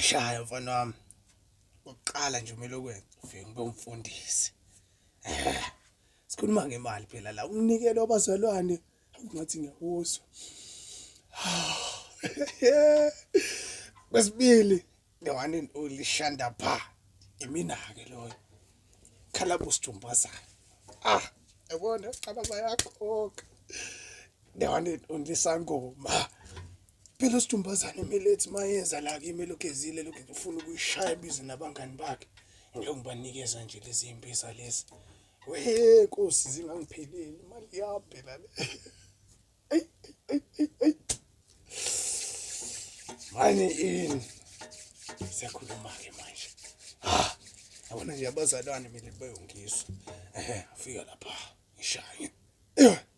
Shaya mfana wami. Uqala nje umele ukwenza ufike ngibe umfundisi. Eh, sikhuluma ngemali phela la umnikelo wabazalwane ngathi ngiyakuzwa kwesibili the one and only shanda pha imina ke loyo khala busithumbazana ah yabona qala bayakhokha the one and only sangoma phela usithumbazana imilethi mayenza la kimi lokhu ezile lokhu ngifuna ukuyishaya ibize nabangani bakhe ngiyokubanikeza nje lezi impisa lezi Wee nkosi zingangipheleli imali yami phela le. Eyi eyi eyi eyi. Manje ini? Siyakhuluma ke manje. Ah, yabona nje abazalwane mina beyongizwa. Ehe, ngifika lapha ngishaye.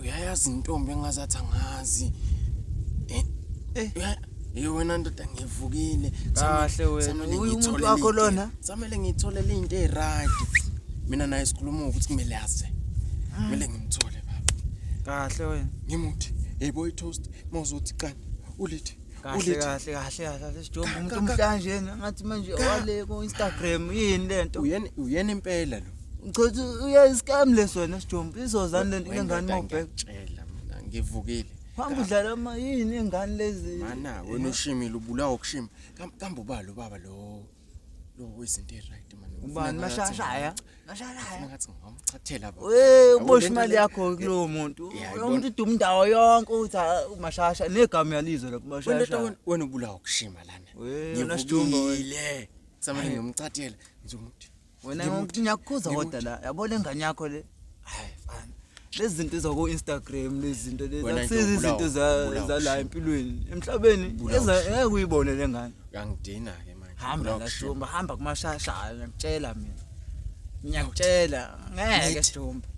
uyayazi intombi engazathi angazi eh, eh. Hey wena ndoda ngivukile. Kahle wena. Umuntu wakho lona. Samele ngithole into eright. Mina naye sikhuluma ukuthi kumele aze. Ah. Kumele ngimthole baba. Kahle wena. Ngimuthi. Hey boy toast mawuzothi qani. Ulithi kahle Ulithi. kahle kahle kahle kahle sijomba Ka- umuntu ka- ka- omhlanjena ngathi manje Ka- wale ku Instagram yini lento uyena uyena impela lo uchathi uya scam leso wena sijomba izozani lento Wendoda lengane mawubheka ngiyakutshela mina ngivukile hamba udlala ama yini ingane lezi mana wena ushimile ubulawa ukushima Kam- kambe ubalo baba lo Lo wezinto eziright man. Ubani mashashaya? Mashashaya. Ngathi ngomchathela baba. Hey ubosha imali yakho kulowo muntu. Umuntu uduma indawo yonke uthi ah, umashasha negama yalizwe lokho mashasha. Wena ubulawa ukushima lana. Ngivukile. Samane ngiyomchathela ngizomuthi wena Ngimuthi- ngiyakukhuza ngimuthi. kodwa la yabo le ngane yakho le hayi fana lezi zinto zaku-instagram lezi zinto lezi Wena nje akusizi ubulawa- izinto za- ubulawa zala shame. empilweni emhlabeni Ubulawa eza- shame. ngeke uyibone le ngane uyangidina ke manje hamba Ubulawa la kushema. jomba hamba kumashasha hayi ngiyakutshela mina ngiyakutshela ngeke Nithi. jomba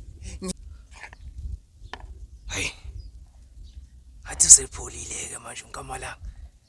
hayi athi usepholile-ke manje unkamalanga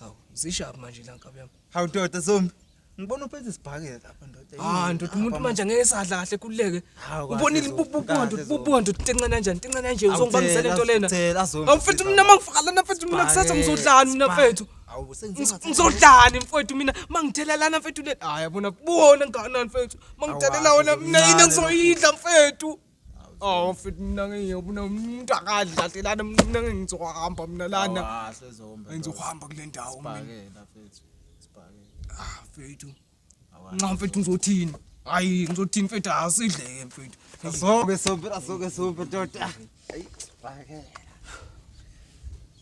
Hawu, zishaphi manje la nkabi yami. Hawu ndoda zombi. Ngibona uphethe isibhakela lapha ndoda. Ah, ndoda umuntu manje angeke sadla kahle kuleke. Ubonile ibubuka ndoda, ibubuka ndoda tenqena kanjani? Tenqena kanje uzongibambisela into lena. Awufethu mina mangifakala na fethu mina kusasa ngizodlani mina fethu. Ngizodlani mfethu mina mangithelelana mfethu le. Hayi yabona kubona nganani mfethu. Mangithelelana mina yini engizoyidla mfethu. Oh mfethu mina ngiyobona umuntu akadlalelana mina ngizohamba mina lana. Awasezomba. Ngizohamba kule ndawo mina. Sibhakela mfethu. Sibhakela. Ah mfethu. Nxa mfethu ngizothini? Hayi ngizothini mfethu asidleke mfethu. Asoke sobe asoke sobe tota. Hayi sibhakela.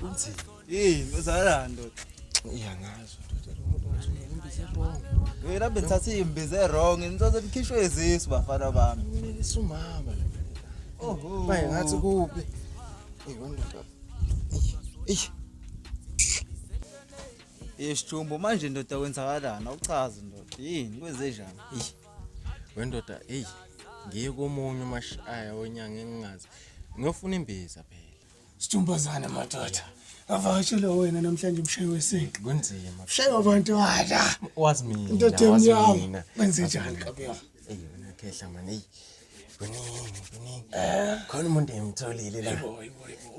Kunzima. Yini uzalani ndoda? Iyangazi ndoda lo muntu ngizwe imbize wrong. Yena bengithatha imbize wrong ngithatha likhishwe izisu bafana bami. Mina isumama la. Oho. Baye ngathi kuphi? Hey ndoda. Eish. Yeshumbo manje ndoda kwenzakalana uchazi ndoda yini kwenze njani? Eish. Wendoda hey ngiye komunye umashaya onyanga engingazi. Ngiyofuna imbiza phela. Sithumbazane madoda. Avakashele wena namhlanje umshayi wesintu. Kunzima. Ushaye abantu wala. Wazi mina. Into ethengi yawo. Wenze njani kabi yami? Ey wena khehla manje. Ey. Kuningi kuningi. Eh. Khona umuntu engimtholile la.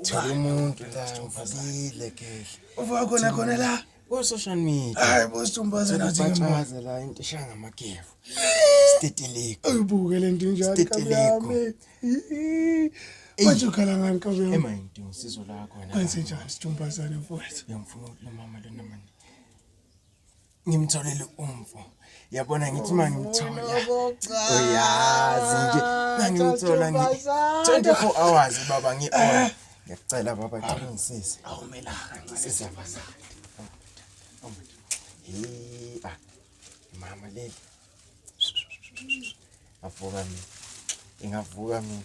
Thola umuntu la ngivukile khehla. Uvuka khona khona la. Ko social media. Hayi bo stumbaze nathi ngembaze la into ishanga amakefu. Steteleko. Uyibuke lento njalo. Steteleko. Manje ukhala ngani kabe yami? Ema into usizo lakho wena. Kwenze njani stumbaze mfowethu? Ngiyamfuna umama lona manje. Ngimtholele umfo. yabona ngithi uma ngimthola uyazi nje uma ngimthola ngi 24 hours baba ngi on ngiyacela baba qinisise awumela kancise bazali hey ah mama leli avuka mina ingavuka mina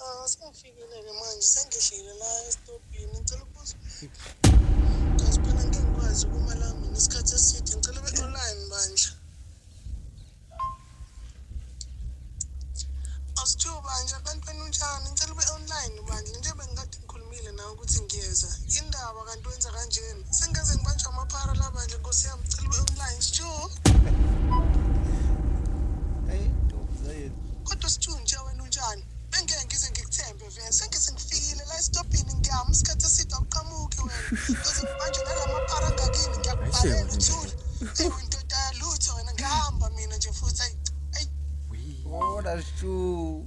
Ah, sengifikile-ke manje sengihlile la esitobhini ngicela ukubuza kazi phela ngeke ngikwazi ukuma la mina isikhathi eside ngicela ube online bandla asithiwa bandla abantwana unjani ngicela ube online bandla njengoba ngikade ngikhuluma Ngile nawe ukuthi ngiyeza. Indaba kanti wenza kanjena. Sengeze ngibanjwa amaphara la bandla Nkosi yami cela ube online. Sjo. Hey, ntombi zayeni. Kodwa sithunja wena unjani? Bengeke ngize ngikuthembe vele. Sengeze ngifikile la esitobhini ngiyama isikhathi eside awuqhamuki wena. Ngize ngibanjwe nalamaphara angakini ngiyakubhalela uthule. Hey windoda yalutho wena ngihamba mina nje futhi ayi. Ayi. Wona shu.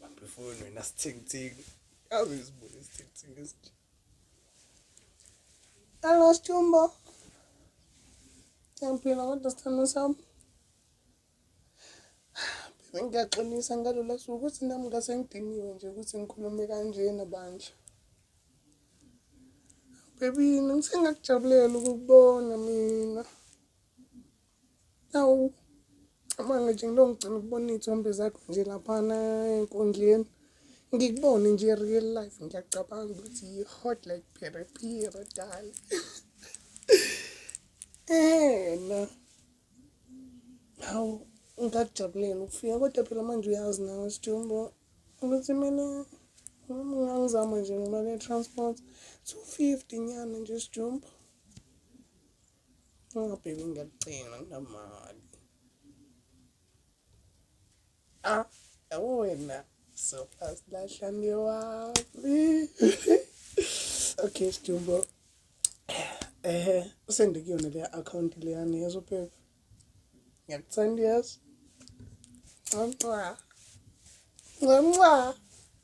Bambifuni wena sithengithenge. Yazi isibuye sithengithenge esinje. Hello Stumbo. Ngiyaphila kodwa sithando sami. Phela ngiyaxolisa ngalolu suku ukuthi nami ngase ngidiniwe nje ukuthi ngikhulume kanje nabandla. Baby, ngisengakujabulela ukubona mina. Awu, cabanga nje ngilongigcina ukubona iy'thombe zakho nje laphana enkundleni. Ngikubone nje real life ngiyacabanga ukuthi yi-hot like pherephere dali. Ena. Hawu, ngakujabulela ukufika kodwa phela manje uyazi nawe Sijumbo ukuthi mina ngangizama nje ngemali ye-transport two fifty nyana nje Sijumbo. Oh baby ngiyakucela nginamali. Ah, yabo wena so fast lahlani wami. Okay, Stumbo. Ehe, usende kuyona le account leyani yezo baby. Ngiyakuthanda yazi. Nxa. Nxa.